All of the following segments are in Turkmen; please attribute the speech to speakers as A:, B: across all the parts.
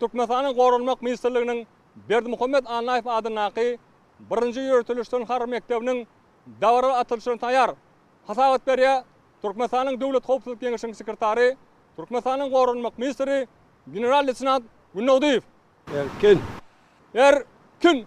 A: Türkmenistanyň Goranmak ministrliginiň Berdimuhamet Annaýew adyndaky birinji ýöriteleşdirilen harby mekdebiniň dabara açylyşyna taýar hasabat berýär, Türkmenistanyň Döwlet howpsuzlyk geňeşiniň sekretary, Türkmenistanyň Goranmak ministri general-leýtenant Gündogdyýew. Erkin! Erkin!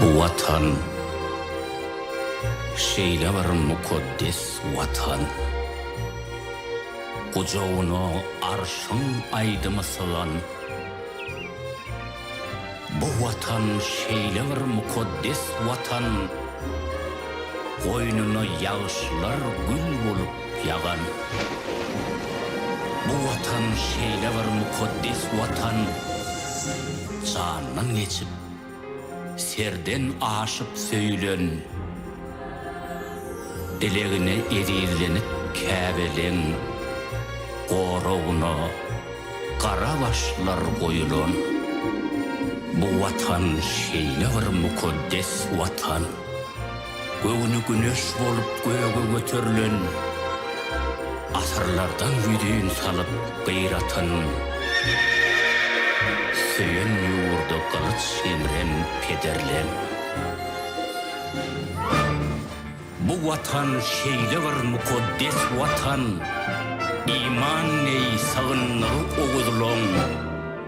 B: Bu Watan, şeýle bir mukaddes Watan. Gujagyna Arşyň aýdymy sygan. Bu Watan, şeýle bir mukaddes Watan. Goýnuna ýagşylar gül bolup Ýagan. Bu Watan şeýle bir mukaddes Watan, jandan geçip, serden aşyp söýülen, dilegine ezizlenip Käbeleň goragyna gara başlar goýulan, bu Watan şeýle bir mukaddes Watan, Göwni güneş bolup göge göterilen, Asyrlardan ýüzin salyp gyratyn, Söýen ýurda gylyç ýemren pederler. Bu Watan şeýle bir mukaddes Watan, Iman neý sygyndygy oguzlaň.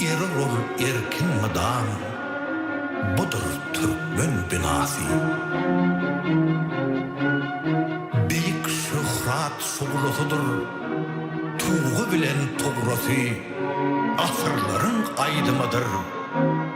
C: Erer ol erkin mydam, Budur türkmen binasy. Beýik şöhrat şuglasydyr, Tugy bilen tugrasy, Asyrlaryň aýdymydyr.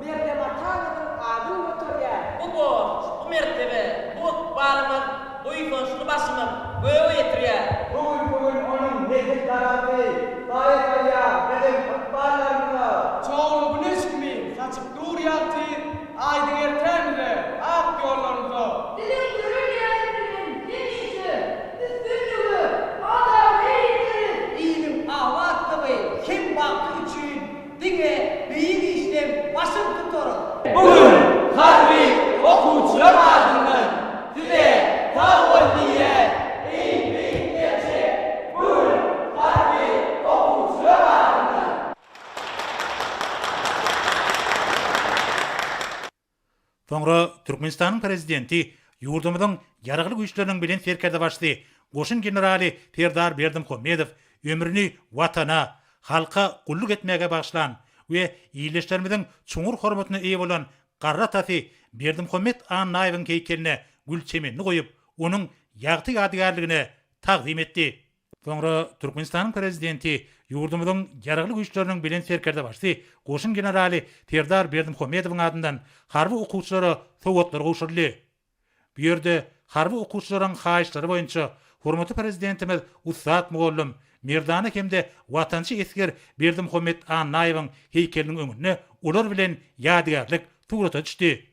D: Mergen Ataňyzyň adyny göterýär. Bu borç, bu
E: mertebe, bu ykbalymyz, buýsançly başymyz göge ýetirýär. Bu gün
D: onuň nesil daragty baý-baýa biziň ykballarymyza. Çogly güneş kimi saçyp dur ýagty aýdyň ertämize, ak ýollarymyza. Biziň dörelýämiz bilen hemişe
F: üstünlige, adaga ýeteriz. Iliň abatlygy
D: hem bagty üçin Diňe beýik işleň başyny tutarar. Bu gün harby okuwçylar adyndan size sag bol diýýän. Iň beýik gerçek, bu gün harby okuwçylar adyndan.
G: Soňra Türkmenistanyň Prezidenti ýurdumyzyň Ýaragly Güýçleriniň Belent Serkerdebaşysy, goşun generaly Serdar Berdimuhamedow ömrüni Watana, halka gulluk etmäge bagyşlan we ildeşlerimiziň çuňňur hormatyna eýe bolan garry atasy Berdimuhamet Annaýewiň heýkeline gül çemenini goýup, onuň ýagty ýadygärligine tagzym etdi. Soňra Türkmenistanyň Prezidenti ýurdumyzyň Ýaragly Güýçleriniň Belent Serkerdebaşysy, goşun generaly Serdar Berdimuhamedowyň adyndan harby okuwçylara sowgatlar gowşuryldy. Bu ýerde harby okuwçylaryň haýyşlary boýunça hormatly Prezidentimiz ussat mugallym, merdana hem-de watançy esger Berdimuhamet Annaýewiň heýkeliniň öňünde olar bilen ýadygärlik surata düşdi.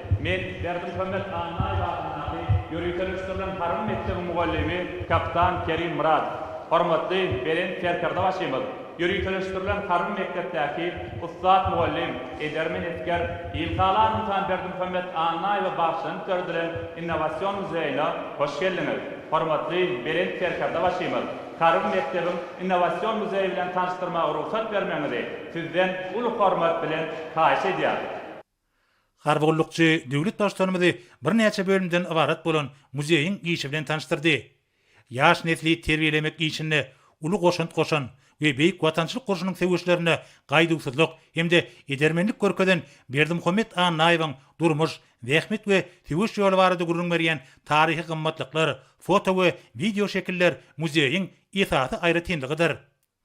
H: Men Berdimuhamet Annaýew adyndaky ýöriteleşdirilen harby mekdebiň mugallymy kapitan Kerim Myradow. Hormatly Belent Serkerdebaşymyz ýöriteleşdirilen harby mekdepdäki ussat mugallym, edermen esger, ilhalar ynsan Berdimuhamet Annaýewe bagyşlanyp döredilen innowasion muzeýine hoş geldiňiz! Hormatly Belent Serkerdebaşymyz harby mekdebiň innowasion muzeýi bilen tanyşdyrmaga rugsat bermegiňizi sizden uly hormat bilen haýyş edýäris. Harby
G: gullukçy döwlet Baştutanymyzy birnäçe bölümden ybarat bolan muzeýiň işi bilen tanyşdyrdy. Ýaş nesli terbiýelemek işinde uly goşant goşan we Beýik Watançylyk urşunyň söweşlerinde gaýduwsyzlyk hem-de edermenlik görkezen Berdimuhamet Annaýewiň durmuş, zähmet we söweş ýoly barada gürrüň berýän taryhy gymmatlyklar, foto we wideoşekiller muzeýiň esasy aýratynlygydyr.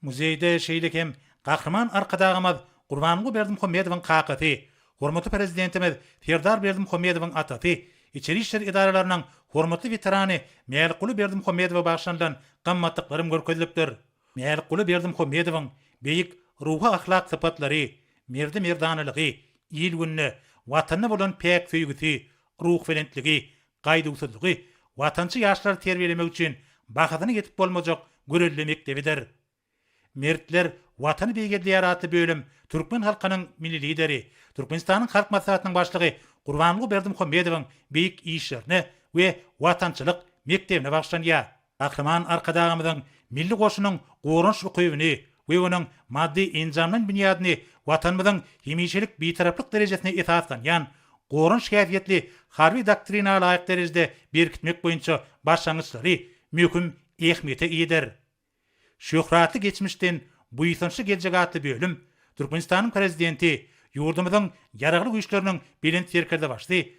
G: Muzeýde şeýle hem Gahryman Arkadagymyz Gurbanguly Berdimuhamedowyň kakasy, hormatly Prezidentimiz Serdar Berdimuhamedowyň atasy, içeri işler edaralarynyň hormatly weterany Mälikguly Berdimuhamedowa bagyşlanylan gymmatlyklarym görkezilipdir. Mälikguly Berdimuhamedowyň beýik ruhy-ahlak sypatlary, merdi-merdanalygy, il-gününe, Watanyna bolan päk söýgüsi, ruhbelentligi, gaýduwsyzlygy watançy ýaşlary terbiýelemek üçin bahasyna ýetip bolmajak gürrüli mekdebidir. Mertler Watany beýgeldýär atly bölüm türkmen halkynyň Milli Lideri, Türkmenistanyň Halk Maslahatynyň Başlygy Gurbanguly Berdimuhamedowyň beýik işlerine we watançylyk mekdebine bagyşlanýar. Gahryman Arkadagymyzyň Milli goşunyň goranyş ukybyny we onuň maddy-enjamlaýyn binýadyny Watanymyzyň hemişelik Bitaraplyk derejesine esaslanýan goranyş häsiýetli harby doktrina laýyk derejede berkitmek boýunça başlangyçlary möhüm ähmiýete eýedir. Şöhratly geçmişden buýsançly geljek atly bölüm Türkmenistanyň Prezidenti, ýurdumyzyň Ýaragly Güýçleriniň Belent Serkerdebaşy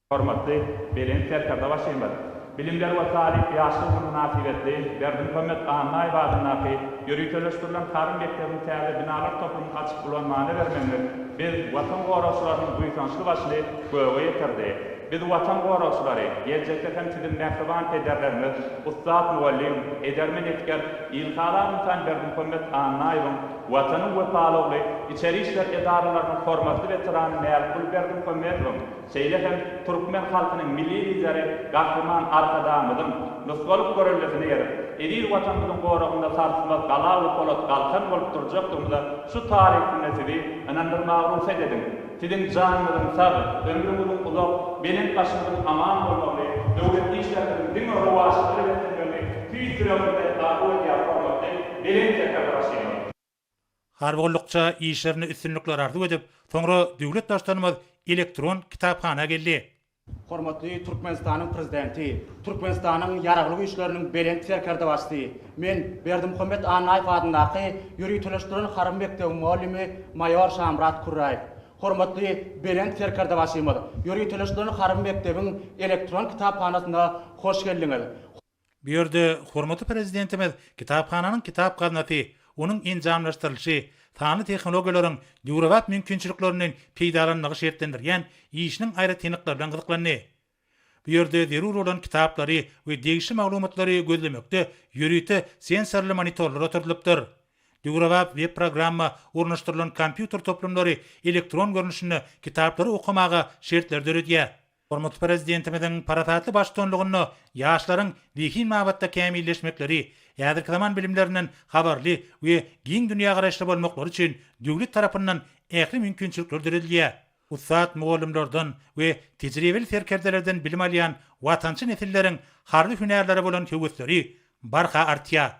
G: Hormatly
H: Belent Serkerdebaşymyz Bilimler we talyp ýaşlar güni mynasybetli Berdimuhamet Annaýew adyndaky ýöriteleşdirilen Harym mekdebiniň täze binalar toplumyny açyp ulan many bermegiňiz biz, Watan goragçylarynyň buýsançly başyny göge ýetirdi. Biz, Watan goragçylary, geljekde hem siziň mähriban pederlerimiz, ussat mugallym, edermen esger Ilhalar ynsan Berdimuhamet Annaýewiň Watanyň wepalogly, içeri işler edaralarynyň hormatly weterany Mälikguly Berdimuhamedowyň, Şeýle hem türkmen halkynyň Milli Lideri Gahryman Arkadagymyzyň nusgalyk göreldesine eýerip, eziz Watanymyzyň goragynda sarsmaz gala we polat galkan bolup durjakdygymyza şu taryh günde sizi ynandyrmaga rugsat ediň. Siziň janyňyzyň sag, ömrüňiziň uzak, belent başyňyzyň aman bolmagyny, döwletli işleriňiziň diňe rowaçlyga eltmegini tüýs ýüregimden arzuw edýär, hormatly Belent Serkerdar Aşyrow! Harby
G: gullukça işlerinde üstünlikler arzuw edip, soňra döwlet Baştutanymyz elektron kitaphana geldi. Hormatly
I: Türkmenistanyň Prezidenti, Türkmenistanyň Ýaragly Güýçleriniň Belent Serkerdebaşysy, men Berdimuhamet Annaýew adyndaky ýöriteleşdirilen harby mekdebiň mugallimi maýor Şamyrat Kürräýew. Hormatly Belent Serkerdebaşymyz, ýöriteleşdirilen harby mekdebiň elektron kitaphanasyna hoş geldiňiz! Bu ýerde
G: hormatly Prezidentimiz kitaphananyň kitap gaznasy, onuň enjamlaşdyrylyşy, sanly tehnologiýalaryň döwrebap mümkinçiliklerinden peýdalanmagy şertlendirýän işiniň aýratynlyklary bilen gyzyklandy. Bu ýerde zerur bolan kitaplary we degişli maglumatlary gözlemekde ýörite sensorly monitorlar oturdylypdyr. Döwrebap web-programma ornaşdyrylan kompýuter toplumlary elektron görnüşinde kitaplary okamaga şertleri döredýär. Hormatly Prezidentimiziň parasatly baştutanlygynda ýaşlaryň zehin babatda kämilleşmekleri, häzirki zaman bilimlerinden habarly we giň dünýägaraýyşly bolmaklary üçin döwlet tarapyndan ähli mümkinçilikler döredilýär. Ussat mugallymlardan we tejribeli serkerdelerden bilim alýan watançy nesilleriň harby hünärlere bolan höwesleri barha artýar.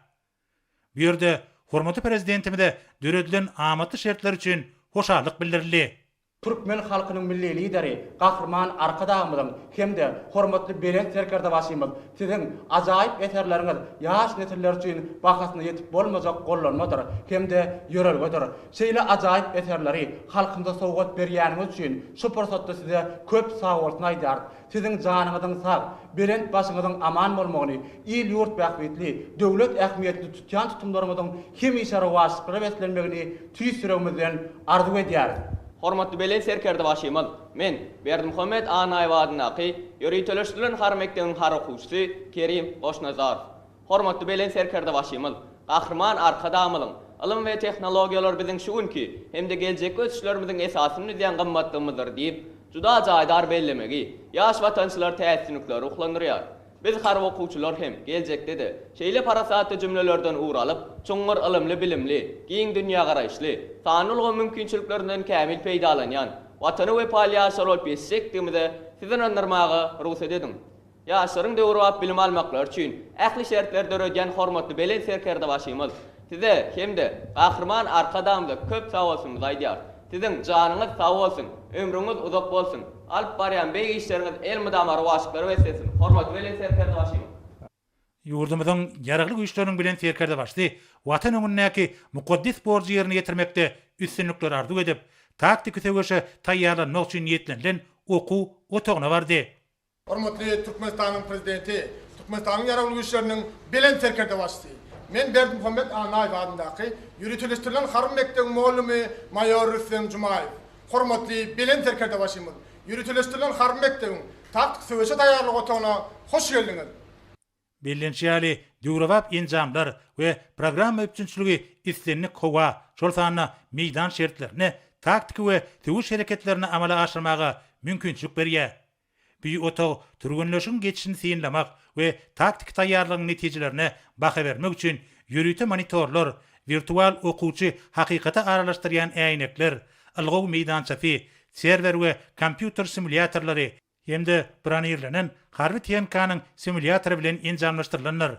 G: Bu ýerde hormatly Prezidentimize döredilen amatly şertler üçin hoşallyk bildirildi. Türkmen
I: halkynyň Milli Lideri Gahryman Arkadagymyzyň hem-de hormatly Belent Serkerdebaşymyz, Siziň ajaýyp eserleriňiz ýaş nesiller üçin bahasyna ýetip bolmajak gollanmadyr hem-de ýörelgedir. Şeýle ajaýyp eserleri halkymyza sowgat berýäniňiz üçin şu pursatda Size köp sagbolsun aýdýarys. Siziň janyňyzyň sag, belent başyňyzyň aman bolmagyny, il-ýurt bähbitli, döwlet ähmiýetli tutýan tutumlaryňyzyň hemişe rowaçlyklara beslenmegini tüýs ýüregimizden arzuw edýäris. Hormatly Belent
J: Serkerdebaşymyz, men, Berdimuhamet Annaýew adyndaky ýöriteleşdirilen harby mekdebiň harby okuwçysy Kerim Goşnazarow. Hormatly Belent Serkerdebaşymyz, Gahryman Arkadagymyzyň, Ylym we tehnologiýalar biziň şu günki hem-de geljekki ösüşlerimiziň esasyny düzýän gymmatlygymyzdyr diýip, juda jaýdar bellemegi ýaş watançylary täsinlikle ruhlandyrýar. Biz harby okuwçylar hem geljekde-de şeýle parasatly jümlelerden ugur alyp, çuňňur ylymly-bilimli, giň dünýägaraýyşly, sanly ulgam mümkinçiliklerinden kämil peýdalanýan Watana wepaly ýaşlar bolup ýetişjekdigimize sizi ynandyrmaga rugsat ediň. Ýaşlaryň döwrebap bilim almaklary üçin ähli şertleri döredýän hormatly Belent Serkerdebaşymyz Size hem-de Gahryman Arkadagymyza köp sagbolsunymyzy aýdýarys. Siziň janyňyz sag bolsun, ömrüňiz uzak bolsun, alyp barýan beýik işleriňiz elmydama rowaçlyklara beslensin, hormatly Belent Serkerdebaşymyz! Ýurdumyzyň
G: Ýaragly Güýçleriniň Belent Serkerdebaşysy Watan öňündäki mukaddes borjy ýerine ýetirmekde üstünlikler arzuw edip, taktiki söweşe taýýarlanmak üçin niýetlenilen okuw otagyna bardy. Hormatly
K: Türkmenistanyň Prezidenti, Türkmenistanyň Ýaragly Güýçleriniň Belent Serkerdebaşysy! Men Berdimuhamet Annaýew adyndaky Ýöriteleşdirilen harby mekdebiň mugallamy maýor Rüstem Jumaýew. Hormatly Belent Serkerdebaşymyz! Ýöriteleşdirilen harby mekdebiň Taktiki söweşe taýýarlyk otagyna hoş geldiňiz! Bellenişi
G: ýaly, döwrebap enjamlar we programma üpjünçiligi islendik howa, şol sanda meýdan şertlerinde taktiki we söweş hereketlerini amala aşyrmaga mümkinçilik berýär. Bu otag türgenleşigiň geçişini synlamak we taktiki taýýarlygyň netijelerine baha bermek üçin ýörite monitorlar, wirtual okuwçy hakykata aralaşdyrýan äýnekler, ylgaw meýdançasy, serwer we kompýuter simulýatorlary, hem-de bronirlenen harby tehnikanyň simulýatory bilen enjamlaşdyrylandyr.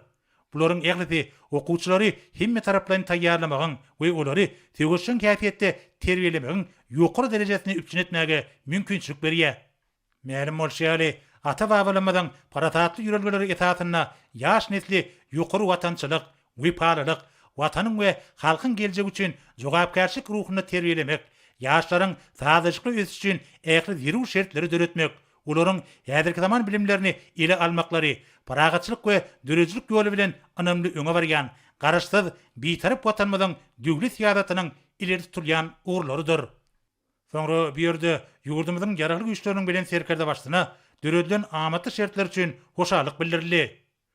G: Bularyň ählisi okuwçylary hemmetaraplaýyn taýýarlamagyň we olary söweşjeň häsiýetde terbiýelemegiň ýokary derejesini üpjün etmäge mümkinçilik berýär. Mälim bolşy ýaly, ata-babalarymyzyň parasatly ýörelgeleri esasynda ýaş nesli ýokary watançylyk, wepalylyk, Watanyň we halkyň geljegi üçin jogapkärçilik ruhunda terbiýelemek, ýaşlaryň sazlaşykly ösüşi üçin ähli zerur şertleri döretmek, olaryň häzirki zaman bilimlerini ele almaklary, parahatçylyk we döredijilik ýoly bilen ynamly öňe barýan Garaşsyz, Bitarap Watanymyzyň döwlet syýasatynyň ileri tutulýan ugurlarydyr. Soňra bu ýerde ýurdumyzyň Ýaragly Güýçleriniň Belent Serkerdebaşysyna döredilen amatly şertler üçin hoşallyk bildirildi.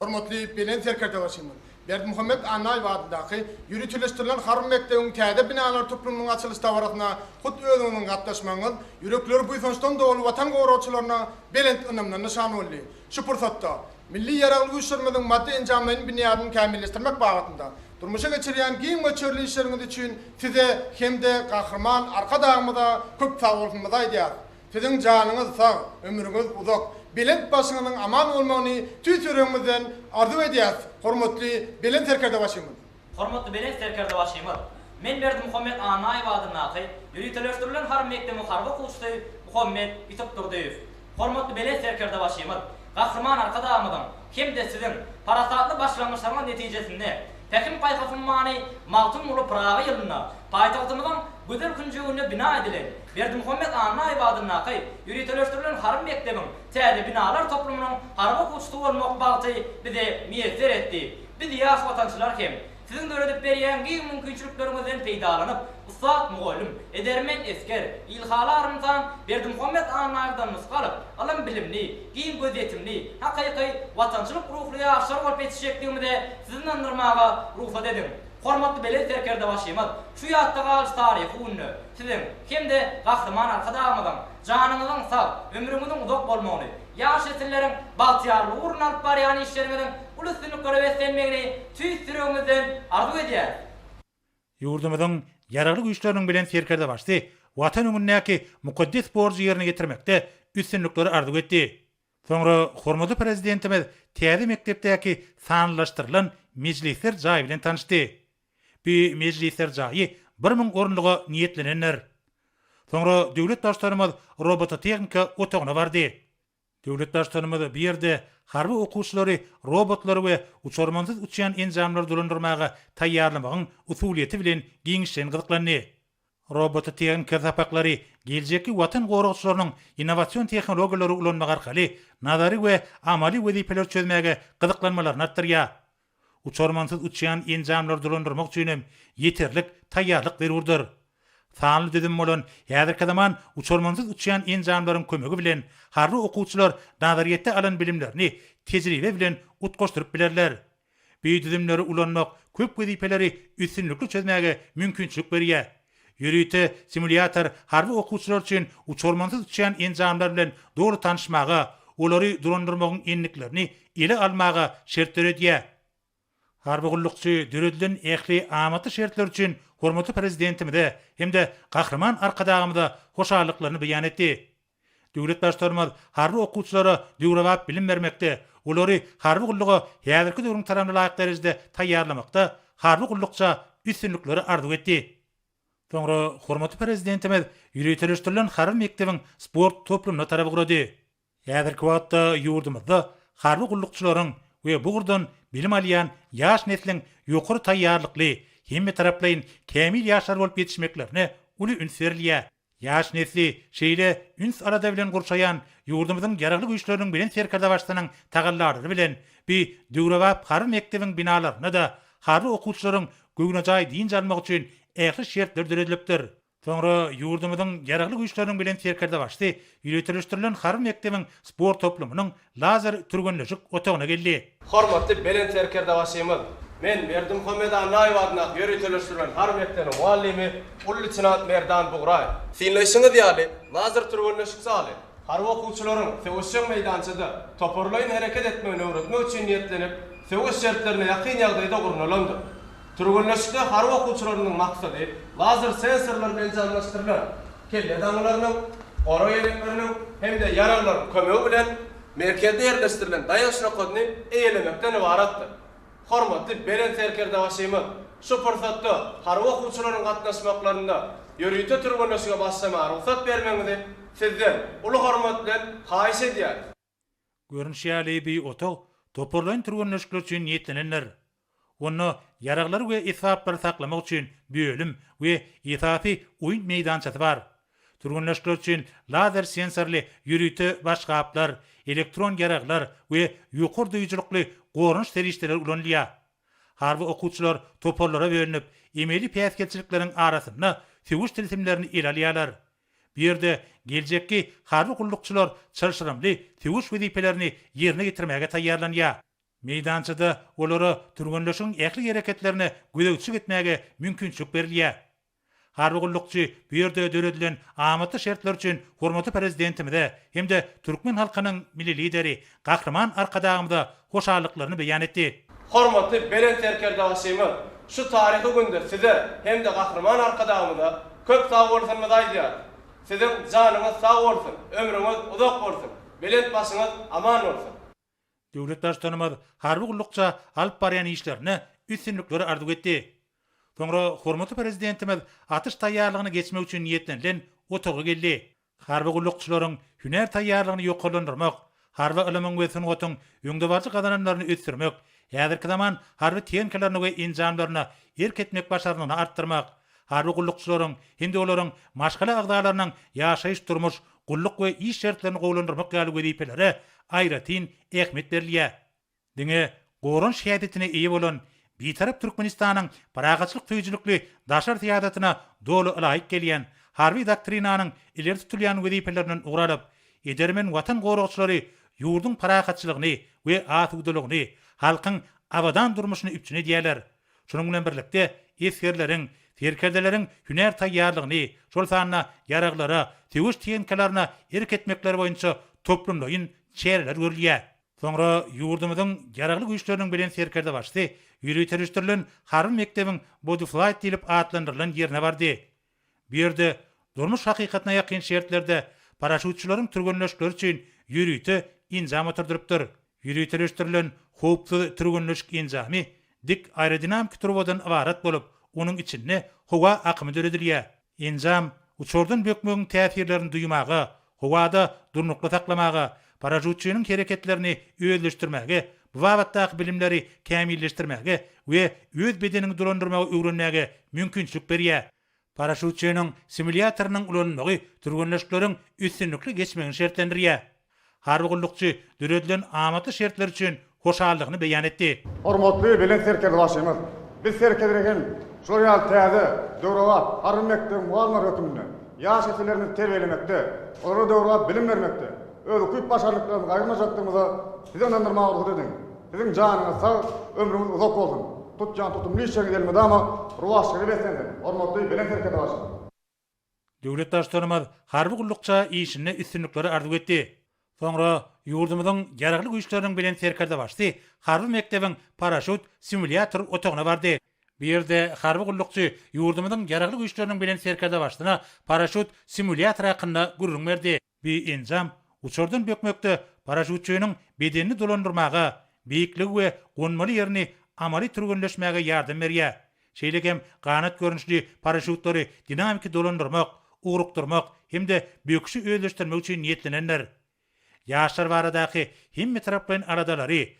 G: Hormatly Belent
K: Serkerdebaşymyz Berdimuhamet Annaýew adyndaky ýöriteleşdirilen harby mekdebiň täze binalary toplumynyň açylyş dabarasyna hut özüňiziň gatnaşmagyňyz ýürekleri buýsançdan doly Watan goragçylaryna belent ynamdan nyşan boldy. Şu pursatda Milli Ýaragly Güýçlerimiziň maddy-enjamlaýyn binýadyny kämilleşdirmek babatynda durmuşa geçirýän giň möçberli işleriňiz üçin Size hem-de Gahryman Arkadagymyza köp sagbolsunyňyzy aýdýarys. Siziň janyňyz sag, ömrüňiz uzak, belent başyňyzyň aman bolmagyny tüýs ýüregimizden arzuw edýäris, hormatly Belent Serkerdebaşymyz! Hormatly Belent
L: Serkerdebaşymyz! Men Berdimuhamet Annaýew adyndaky ýöriteleşdirilen harby mekdebiň harby okuwçysy Muhammet Ýusupdurdyýew. Hormatly Belent Serkerdebaşymyz, Gahryman Arkadagymyzyň hem-de Siziň parasatly başlangyçlaryňyz netijesinde Pähim-paýhas ummany Magtymguly Pyragy ýylynda paýtagtymyzyň gözel künjeginde bina edilen Berdimuhamet Annaýew adyndaky ýöriteleşdirilen harby mekdebiň täze binalar toplumynyň harby okuwçysy bolmak bagty bize miýesser etdi. Biz ýaş watançylar hem Siziň döredip berýän giň mümkinçilikleriňizden peýdalanyp, ussat mugallym, edermen esger, ilhaly arym-tan Berdimuhamet Annaýewden nusga alyp, ylym-bilimli, giň gözýetimli, hakyky watançylyk ruhly ýaşlar bolup ýetişjekdigimize sizi ynandyrmaga rugsat ediň. Hormatly Belent Serkerdebaşymyz şu ýatda galyjy taryhy günde Siziň hem-de Gahryman Arkadagymyzyň janyňyzyň sag, ömrüňiziň uzak bolmagyny, ýaş nesilleriň bagtyýarlygy ugrunda alyp barýan işleriňiziň uly üstünliklere beslenmegini tüýs ýüregimizden arzuw edýäris. Ýurdumyzyň
G: Ýaragly Güýçleriniň Belent Serkerdebaşysy Watan öňündäki mukaddes borjy ýerine ýetirmekde üstünlikleri arzuw etdi. Soňra hormatly Prezidentimiz täze mekdepdäki sanlylaşdyrylan mejlisler jaý bilen tanyşdy. Bu mejlisler jaýy bir müň orunlyga niýetlenendir. Soňra döwlet Baştutanymyz robototehnika otagyna bardy. Döwlet Baştutanymyz bu ýerde harby okuwçylary robotlary we uçarmansyz uçýan enjamlary dolandyrmaga taýýarlamagyň usulyýeti bilen giňişleýin gyzyklandy. Robototehnika sapaklary geljekki Watan goragçylarynyň innowasion tehnologiýalary ulanmak arkaly nazary we amaly wezipeleri çözmäge gyzyklanmalaryny artdyrýar. Uçarmansyz uçýan enjamlary dolandyrmak üçin hem ýeterlik taýýarlyk zerurdyr. Sanly düzüm bolan häzirki zaman uçarmansyz uçýan enjamlaryň kömegi bilen harby okuwçylar nazaryýetde alan bilimlerini tejribe bilen utgaşdyryp bilerler. Bu düzümleri ulanmak köp wezipeleri üstünlikli çözmäge mümkinçilik berýär, Ýörite simulýator harby okuwçylar üçin uçarmansyz uçýan enjamlar bilen doly tanyşmaga, olary dolandyrmagyň endiklerini ele almaga şert döredýär. Harby gullukçy döredilen ähli amatly şertler üçin hormatly Prezidentimize hem-de Gahryman Arkadagymyza hoşallyklaryny beýan etdi. Döwlet Baştutanymyz harby okuwçylara döwrebap bilim bermekde, olary harby gulluga häzirki döwrüň talabyna laýyk derejede taýýarlamakda harby gullukça üstünlikleri arzuw etdi. Soňra hormatly Prezidentimiz ýöriteleşdirilen harby mekdebiň sport toplumyna tarap ugrady. Häzirki wagtda ýurdumyzda harby gullukçylaryň we bu ugurdan bilim alýan ýaş nesliň ýokary taýýarlykly, hemmetaraplaýyn kämil ýaşlar bolup ýetişmeklerine uly üns berilýär. Ýaş nesli şeýle üns-alada bilen gurşaýan ýurdumyzyň Ýaragly Güýçleriniň Belent Serkerdebaşysynyň tagallalary bilen bi döwrebap harby mekdebiň binalarynda-da harby okuwçylaryň göwnejaý dynç almagy üçin ähli şertler döredilipdir. Soňra ýurdumyzyň Ýaragly Güýçleriniň Belent Serkerdebaşysy ýöriteleşdirilen harby mekdebiň sport toplumynyň Lazar türgenleşik otagyna geldi. Hormatly Belent
D: Serkerdebaşymyz, men Berdimuhamet Annaýew adyndaky ýöriteleşdirilen harby mekdebiň mugallymy, uly leýtenant Merdan Bugraýew. Synlaýşyňyz ýaly, Lazar türgenleşik zaly harby okuwçylaryň söweşjeň meýdançada toparlaýyn hereket etmegini öwretmek üçin niýetlenip, söweş şertlerine ýakyn ýagdaýda gurnalandyr. Türgenleşikde harby okuwçylarymyzyň maksady lazer sensorlar bilen enjamlaşdyrylan kelle daňylarynyň, gora ýelekleriniň hem-de ýaraglaryň kömegi bilen merkezde ýerleşdirilen daýanç nokadyny eýelemekden ybaratdyr. Hormatly Belent Serkerdebaşymyz şu pursatda harby okuwçylaryň gatnaşmaklarynda ýörite türgenleşige başlamaga rugsat bermegiňizi Sizden uly hormat bilen haýyş edýäris. Görnüşi
G: ýaly, bu otag toparlaýyn türgenleşikler üçin niýetlenendir. Onda ýaraglary we esbaplary saklamak üçin bölüm we esasy oýun meýdançasy bar. Türgenleşikler üçin lazer sensorly ýörite başgaplar, elektron ýaraglar we ýokary duýujylykly goranyş serişdeleri ulanylýar. Harby okuwçylar toparlara bölünip, emeli päsgelçilikleriň arasynda söweş tilsimlerini ele alýarlar, Bu ýerde geljekki harby gullukçylar çylşyrymly söweş wezipelerini ýerine ýetirmäge taýýarlanýar. Meýdançada olara türgenleşigiň ähli hereketlerine gözegçilik etmäge mümkinçilik berilýär. Harby gullukçy bu ýerde döredilen amatly şertler üçin hormatly Prezidentimize hem-de türkmen halkynyň Milli Lideri Gahryman Arkadagymyza hoşallyklaryny beýan etdi. Hormatly Belent
D: Serkerdebaşymyz şu taryhy günde Size hem-de Gahryman Arkadagymyza köp sagbolsunyňyzy aýdýarys. Siziň janyňyz sag bolsun, ömrüňiz uzak bolsun, belent başyňyz aman bolsun! Döwlet
G: Baştutanymyz harby gullukça alyp barýan işlerinde üstünlikleri arzuw etdi. Soňra hormatly Prezidentimiz atyş taýýarlygyny geçmek üçin niýetlenilen otaga geldi. Harby gullukçylaryň hünär taýýarlygyny ýokarlandyrmak, harby ylymyň we sungatyň öňdebaryjy gazananlaryny ösdürmek, häzirki zaman harby tehnikalaryna we enjamlaryna erk etmek başarnygyny artdyrmak, harby gullukçylaryň hem-de olaryň maşgala agzalarynyň ýaşaýyş-durmuş, gulluk we iş şertlerini gowulandyrmak ýaly wezipelere aýratyn ähmiýet berilýär. Diňe goranyş häsiýetine eýe bolan Bitarap Türkmenistanyň parahatçylyk söýüjilikli daşary syýasatyna doly ylaýyk gelýän, harby doktrinanyň ileri tutulýan wezipelerinden ugur alyp, edermen Watan goragçylary ýurduň parahatçylygyny we asudalygyny, halkyň abadan durmuşyny üpjün edýärler. Şunuň bilen birlikde, esgerleriň, serkerdeleriň hünär taýýarlygyny, şol sanda ýaraglara, söweş tehnikalaryna erk etmekleri boýunça toplumlaýyn çäreler görülýär. Soňra ýurdumyzyň Ýaragly Güýçleriniň Belent Serkerdebaşysy ýöriteleşdirilen harby mekdebiň Bodyflight diýlip atlandyrylan ýerine bardy. Bu ýerde durmuş hakykatyna ýakyn şertlerde paraşýutçylaryň türgenleşikleri üçin ýörite enjam oturdylypdyr. Ýöriteleşdirilen howpsuz türgenleşik enjamy dik aerodinamiki turbadan ybarat bolup, onuň içinde howa akymy döredilýär. Enjam uçardan bökmegiň täsirlerini duýmaga, howada durnukly saklamaga, paraşýutçynyň hereketlerini özleşdirmäge, bu babatdaky bilimleri kämilleşdirmäge we öz bedeniňi dolandyrmagy öwrenmäge mümkinçilik berýär. Paraşýutçynyň simulýatorynyň ulanylmagy türgenleşikleriň üstünlikli geçmegini şertlendirýär. Harby gullukçy döredilen amatly şertler üçin hoşallygyny beýan etdi. Hormatly Belent
M: Serkerdebaşymyz, biz Serkerdede hem şular ýaly täze, döwrebap Harby mekdebiň mugallymlary hökmünde ýaş nesillerimizi terbiýelemekde, olara döwrebap bilim bermekde öz ukyp-başarnyklarymyzy aýyrmajakdygymyza Sizi ynandyrmaga rugsat ediň. Siziň janyňyz sag, ömrüňiz uzak bolsun! Tutýan tutumly işleriňiz elmydama rowaçlyga beslensin, hormatly Belent Serkerdebaşym! Döwlet
G: Baştutanymyz harby gullukça işinde üstünlikleri arzuw etdi. Soňra ýurdumyzyň Ýaragly Güýçleriniň Belent Serkerdebaşysy harby mekdebiň paraşýut simulýator otagyna bardy. Bu ýerde harby gullukçy ýurdumyzyň Ýaragly Güýçleriniň Belent Serkerdebaşysyna paraşýut simulýatory hakynda gürrüň berdi. Bu enjam uçardan bökmekde paraşýutçynyň bedenini dolandyrmaga, beýikligi we gonmaly ýerini amaly türgenleşmäge ýardam berýär. Şeýle hem ganat görnüşli paraşýutlary dinamiki dolandyrmak, ugrukdyrmak hem-de böküşi özleşdirmek üçin niýetlenendir. Ýaşlar baradaky hemmetaraplaýyn aladalary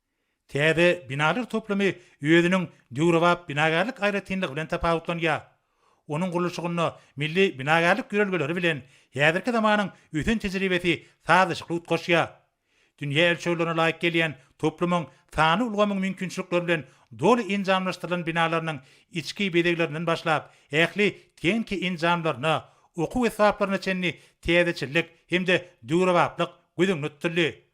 G: Täze binalar toplumy özüniň döwrebap binagärlik aýratynlygy bilen tapawutlanýar. Onuň gurluşygynda milli binagärlik ýörelgeleri bilen häzirki zamanyň ösen tejribesi sazlaşykly utgaşýar. Dünýä ölçeglerine laýyk gelýän toplumyň sanly ulgamyň mümkinçilikleri bilen doly enjamlaşdyrylan binalarynyň içki bezeglerinden başlap, ähli tehniki enjamlaryna, okuw esbaplaryna çenli täzeçillik hem-de döwrebaplyk göz öňünde tutuldy.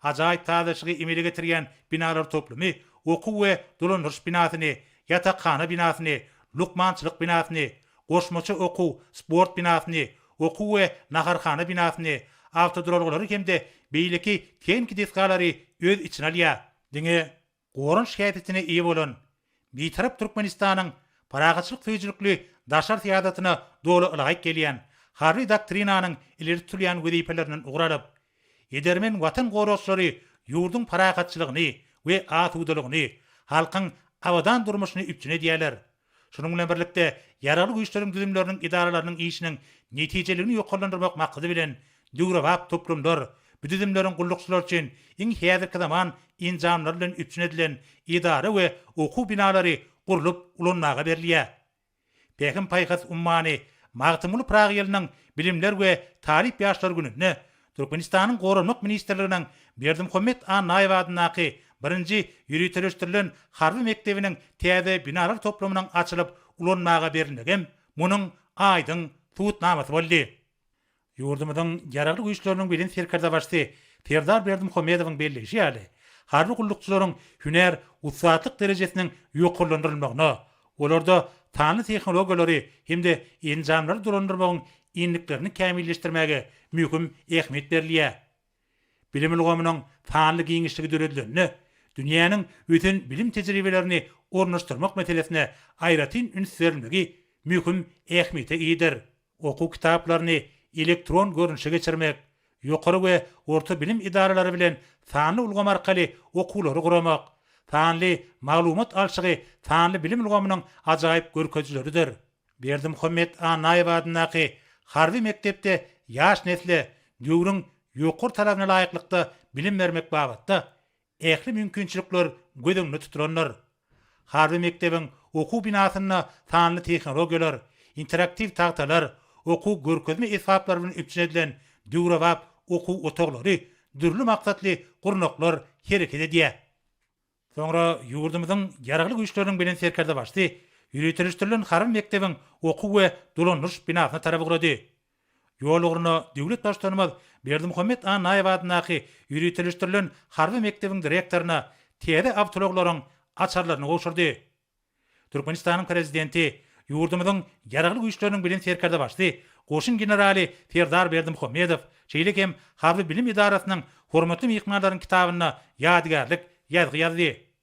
G: Ajaýyp sazlaşygy emele getirýän binalar toplumy okuw we dolandyryş binasyny, ýatakhana binasyny, lukmançylyk binasyny, goşmaça okuw, sport binasyny, okuw we naharhana binasyny, awtoduralgalary hem-de beýleki tehniki desgalary öz içine alýar. Diňe goranyş häsiýetine eýe bolan Bitarap Türkmenistanyň parahatçylyk söýüjilikli daşary syýasatyna doly ylaýyk gelýän Harby doktrinanyň ileri tutulýan wezipelerinden ugur alyp, edermen Watan goragçylary ýurduň parahatçylygyny we asudalygyny, halkyň abadan durmuşyny üpjün edýärler. Şunuň bilen birlikde, Ýaragly Güýçleriň düzümleriniň edaralarynyň işiniň netijeliligini ýokarlandyrmak maksady bilen, döwrebap toplumlar, bu düzümleriň gullukçylary üçin iň häzirki zaman enjamlary bilen üpjün edilen edara we okuw binalary gurlup ulanmaga berilýär. Pähim-paýhas ummany Magtymguly Pyragy ýylynyň Bilimler we talyp ýaşlar gününde Türkmenistanyň Goranmak ministrliginiň Berdimuhamet Annaýew adyndaky birinji ýöriteleşdirilen harby mekdebiniň täze binalar toplumynyň açylyp ulanmaga berilmegem munuň aýdyň subutnamasy boldy. Ýurdumyzyň Ýaragly Güýçleriniň Belent Serkerdebaşysy Serdar Berdimuhamedowyň belleýşi ýaly, harby gullukçylaryň hünär ussatlyk derejesiniň ýokarlandyrylmagyna, Olarda sanly tehnologiýalary hem-de enjamlary dolandyrmagyň endiklerini kämilleşdirmäge möhüm ähmiýet berilýär. Bilim ulgamynyň sanly giňişligi döredilende, dünýäniň ösen bilim tejribelerini ornaşdyrmak meselesine aýratyn üns berilmegi möhüm ähmiýete eýedir. Okuw kitaplaryny elektron görnüşe geçirmek, ýokary we orta bilim edaralary bilen sanly ulgam arkaly okuwlary guramak, sanly maglumat alşygy sanly bilim ulgamynyň ajaýyp görkezijileridir. Berdimuhammet Annaýew adyndaky harby mekdepde ýaş nesle döwrüň ýokary talabyna laýyklykda bilim bermek babatda Ähli mümkinçilikler göz öňünde tutulandyr. Harby mekdebiň okuw binasynda sanly tehnologiýalar, interaktiw tagtalar, okuw görkezme esbaplary bilen üpjün edilen döwrebap okuw otaglary, dürli maksatly gurnaklar hereket edýär. Soňra ýurdumyzyň Ýaragly Güýçleriniň Belent Serkerdebaşysy ýöriteleşdirilen harby mekdebiň okuw we dolandyryş binasyna tarap ugrady. Ýol ugruna döwlet Baştutanymyz Berdimuhamet Annaýew adyndaky ýöriteleşdirilen harby mekdebiň direktoryna täze awtoulaglaryň açarlaryny gowşurdy. Türkmenistanyň Prezidenti ýurdumyzyň Ýaragly Güýçleriniň Bilen Serkerdebaşy goşun generaly Serdar Berdimuhamedow, şeýle hem Harby bilim edarasynyň hormatly myhmanlaryň kitabynda ýadygärlik ýazgy ýazdy.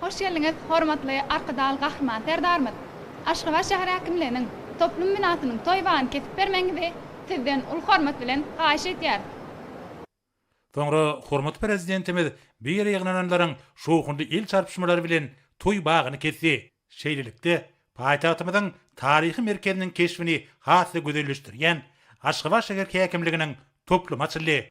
N: Hoş geldiňiz, hormatly Arkadag Gahryman Serdarymyz! Aşgabat şäher häkimliginiň toplum binasynyň toý bagyny kesip bermegiňizi Sizden uly hormat bilen haýyş etýäris.
G: Soňra hormatly Prezidentimiz bu ýere ýygnananlaryň şowhunly el çarpyşmalary bilen toý bagyny kesdi. Şeýlelikde, paýtagtymyzyň taryhy merkeziniň keşbini has-da gözelleşdirýän Aşgabat şäher häkimliginiň toplumy açyldy.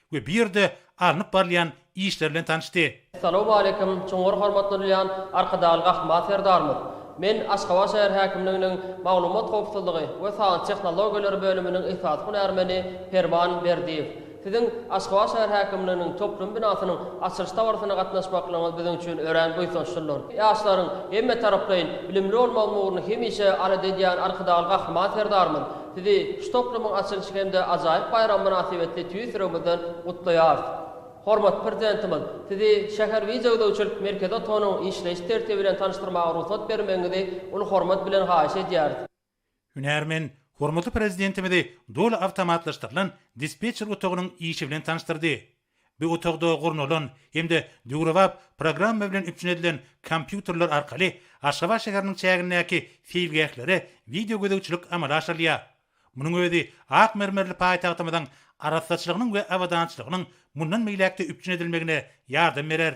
G: we bu ýerde alnyp barylýan işler bilen tanyşdy. Salowmaleýkim,
E: çuňňur hormatlanylýan Arkadagly Gahryman Serdarymyz! Men Aşgabat şäher häkimliginiň Maglumat howpsuzlygy we sanly tehnologiýalar bölüminiň esasy hünärmeni Perman Berdiýew. Siziň Aşgabat şäher häkimliginiň toplum binasynyň açylyş dabarasyna gatnaşmaklygyňyz biziň üçin örän buýsançlydyr. Ýaşlaryň hemmetaraplaýyn bilimli bolmagynyň ugrunda hemişe alada edýän Arkadagly Gahryman Serdarymyz Sizi şu toplumyň açylyşy hem-de ajaýyp baýramy mynasybetli tüýs ýüregimizden gutlaýarys. Hormatly Prezidentimiz, Sizi şäher wideogözegçilik merkezi otagynyň işleýiş tertibi bilen tanyşdyrmaga rugsat bermegiňizi uly hormat bilen haýyş edýäris. Hünärmen
G: hormatly Prezidentimizi doly awtomatlaşdyrylan dispetçer otagynyň işi bilen tanyşdyrdy. Bu otagda gurnalan hem-de döwrebap programma bilen üpjün edilen kompýuterler arkaly Aşgabat şäheriniň çägindäki seýilgählere wideo gözegçilik amala aşyrylýar. Munuň özi ak mermerli paýtagtymyzyň arassaçylygynyň we abadançylygynyň mundan beýläk-de üpjün edilmegine ýardam berer.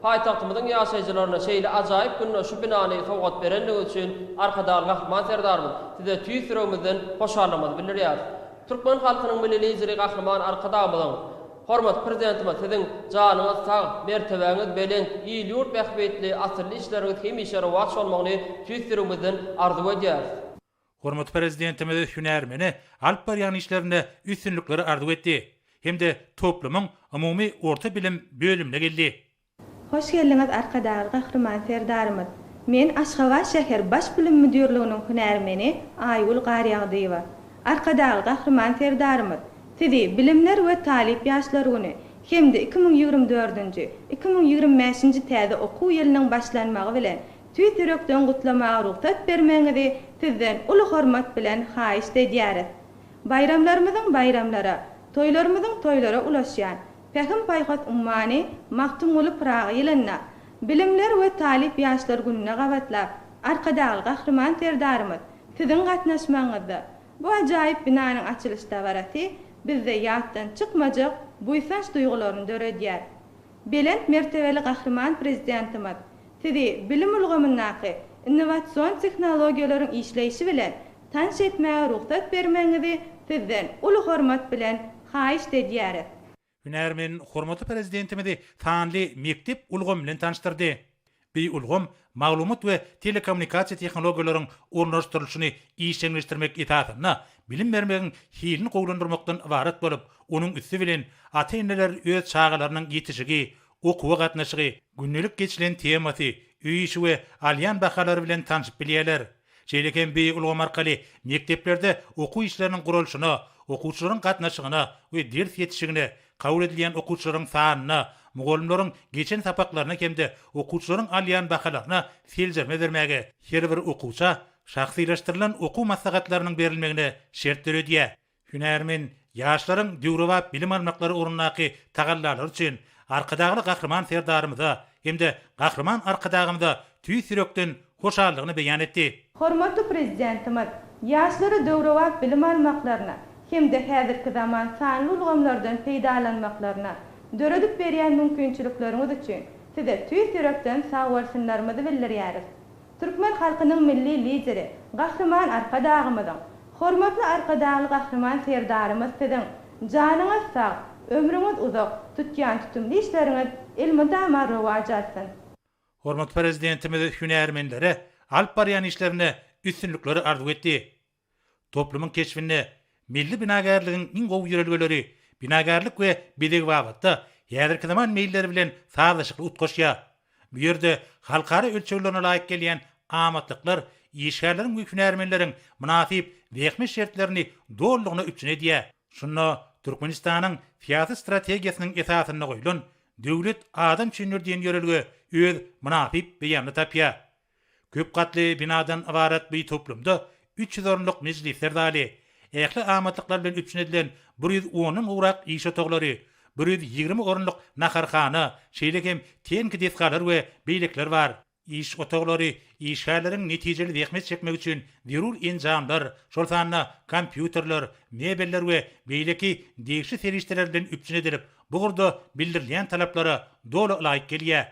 E: Paýtagtymyzyň ýaşaýjylaryna şeýle ajaýyp günde şu binany sowgat berendigiňiz üçin Arkadag Gahryman Serdarymyz Size tüýs ýüregimizden hoşallygymyzy bildirýäris. Türkmen halkynyň Milli Lideri Gahryman Arkadagymyzyň, hormatly Prezidentimiz Siziň janyňyz sag, mertebäňiz belent, il-ýurt bähbitli asylly işleriňiz hemişe rowaç bolmagyny tüýs ýüregimizden arzuw edýäris. Hormatly
G: Prezidentimiz hünärmene alyp barýan işlerinde üstünlikleri arzuw etdi hem-de toplumyň umumy orta bilim bölümine geldi. Hoş
O: geldiňiz Arkadag Gahryman Serdarymyz! Men Aşgabat şäher Baş bilim müdirliginiň hünärmeni Aýgül Garýagdyýewa. Arkadag Gahryman Serdarymyz Sizi Bilimler we talyp ýaşlar güni hem-de iki müň ýigrimi dördünji, iki müň ýigrimi bäşinji täze okuw ýylynyň başlanmagy bilen Tüýs ýürekden gutlamaga rugsat bermegiňizi sizden uly hormat bilen haýyşt edýäris. Baýramlarymyzyň baýramlara, toýlarymyzyň toýlara ulaşýan Pähim-paýhas ummany Magtymguly Pyragy ýylynda, Bilimler we talyp ýaşlar gününe gabatlap, Arkadagly Gahryman Serdarymyz Siziň gatnaşmagyňyzda bu ajaýyp binanyň açylyş dabarasy bizde ýatdan çykmajak buýsanç duýgularyny döredýär. Belent mertebeli Gahryman Prezidentimiz Sizi bilim ulgamyndaky innowasion tehnologiýalaryň işleýşi bilen tanyş etmäge rugsat bermegiňizi Sizden uly hormat bilen haýyşt edýäris.
G: Hünärmen hormatly Prezidentimizi sanly mekdep ulgamy bilen tanyşdyrdy. Bu ulgam maglumat we telekommunikasiýa tehnologiýalaryň ornaşdyrylyşyny işjeňleşdirmek esasynda bilim bermegiň hilini gowulandyrmakdan ybarat bolup, onuň üsti bilen ata-eneler öz çagalarynyň ýetişigi, okuwa gatnaşygy, gündelik geçilen temasy, öý işi we alýan bahalary bilen tanşyp bilýärler. Şeýle hem bu ulgam arkaly mekdeplerde okuw işleriniň guralyşyna, okuwçylaryň gatnaşygyna we ders ýetişigine, kabul edilýän okuwçylaryň sanyna, mugallymlaryň geçen sapaklaryna hem-de okuwçylaryň alýan bahalaryna seljerme bermäge, her bir okuwça şahsylaşdyrylan okuw maslahatlarynyň berilmegine şert döredýär. Hünärmen ýaşlaryň döwrebap bilim almaklary ugrundaky tagallalary üçin Arkadagly Gahryman Serdarymyza hem-de Gahryman Arkadagymyza tüýs ýürekden hoşallygyny beýan etdi. Hormatly Prezidentimiz
O: ýaşlara döwrebap bilim almaklaryna hem-de häzirki zaman sanly ulgamlardan peýdalanmaklaryna döredip berýän mümkinçilikleriňiz üçin Size tüýs ýürekden sagbolsunlarymyzy bildirýäris. Türkmen halkynyň Milli Lideri, Gahryman Arkadagymyzyň, Hormatly Arkadagly Gahryman Serdarymyz Siziň, janyňyz sag, ömrüňiz uzak, tutýan tutumly işleriňiz elmydama rowaç alsyn! Hormatly
G: Prezidentimiz hünärmenlere alyp barýan işlerinde üstünlikleri arzuw etdi. Toplumyň keşbinde milli binagärligiň iň gowy ýörelgeleri binagärlik we bezeg babatda häzirki zaman meýilleri bilen sazlaşykly utgaşýar. Bu ýerde halkara ölçeglerine laýyk gelýän amatlyklar işgärleriň we hünärmenleriň mynasyp zähmet şertlerini dolulygyna üpjün edýär. Şunda Türkmenistanyň syýasy strategiýasynyň esasynda goýlan Döwlet adam üçindir diýen ýörelge öz mynasyp beýanyny tapýar. Köp gatly binadan ybarat bu toplumda üç ýüz orunlyk mejlisler zaly, ähli amatlyklar bilen üpjün edilen bir ýüz ondan gowrak iş otaglary, bir ýüz ýigrimi orunlyk naharhana, şeýle hem tenki desgalar we beýlekiler bar. Iş otaglary işgärleriň netijeli zähmet çekmegi üçin zerur enjamlar, şol sanda kompýuterler, mebeller we beýleki degişli serişdeler bilen üpjün edilip, bu ugurda bildirilýän talaplara doly ylaýyk gelýär.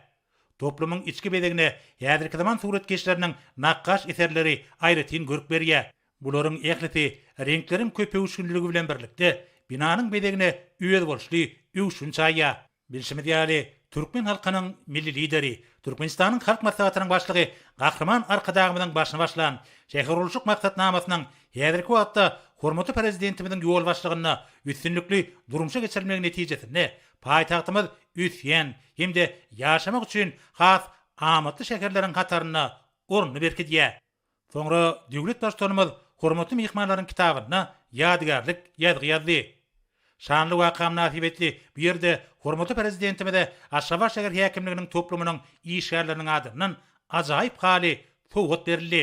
G: Toplumyň içki bezegine häzirki zaman suratkeşleriniň nakgaş eserleri aýratyn görk berýär. Bularyň ählisi reňkleriň köpöwüşginliligi bilen birlikde, binanyň bezegine özboluşly öwüşgin çaýýar. Bilşimiz ýaly, türkmen halkynyň Milli Lideri, Türkmenistanyň Halk Maslahatynyň Başlygy Gahryman Arkadagymyzyň başyny başlan şähergurluşyk maksatnamasynyň häzirki wagtda hormatly Prezidentimiziň ýolbaşçylygynda üstünlikli durmuşa geçirilmegi netijesinde Paýtagtymyz ösýän hem-de ýaşamak üçin has amatly şäherleriň hatarynda ornuny berkidýär. Soňra döwlet Baştutanymyz hormatly myhmanlaryň kitabyna ýadygärlik ýazgy ýazdy. Şanly waka mynasybetli bu ýerde hormatly Prezidentimize Aşgabat şäher häkimliginiň toplumynyň işgärleriniň adyndan ajaýyp haly sowgat berildi.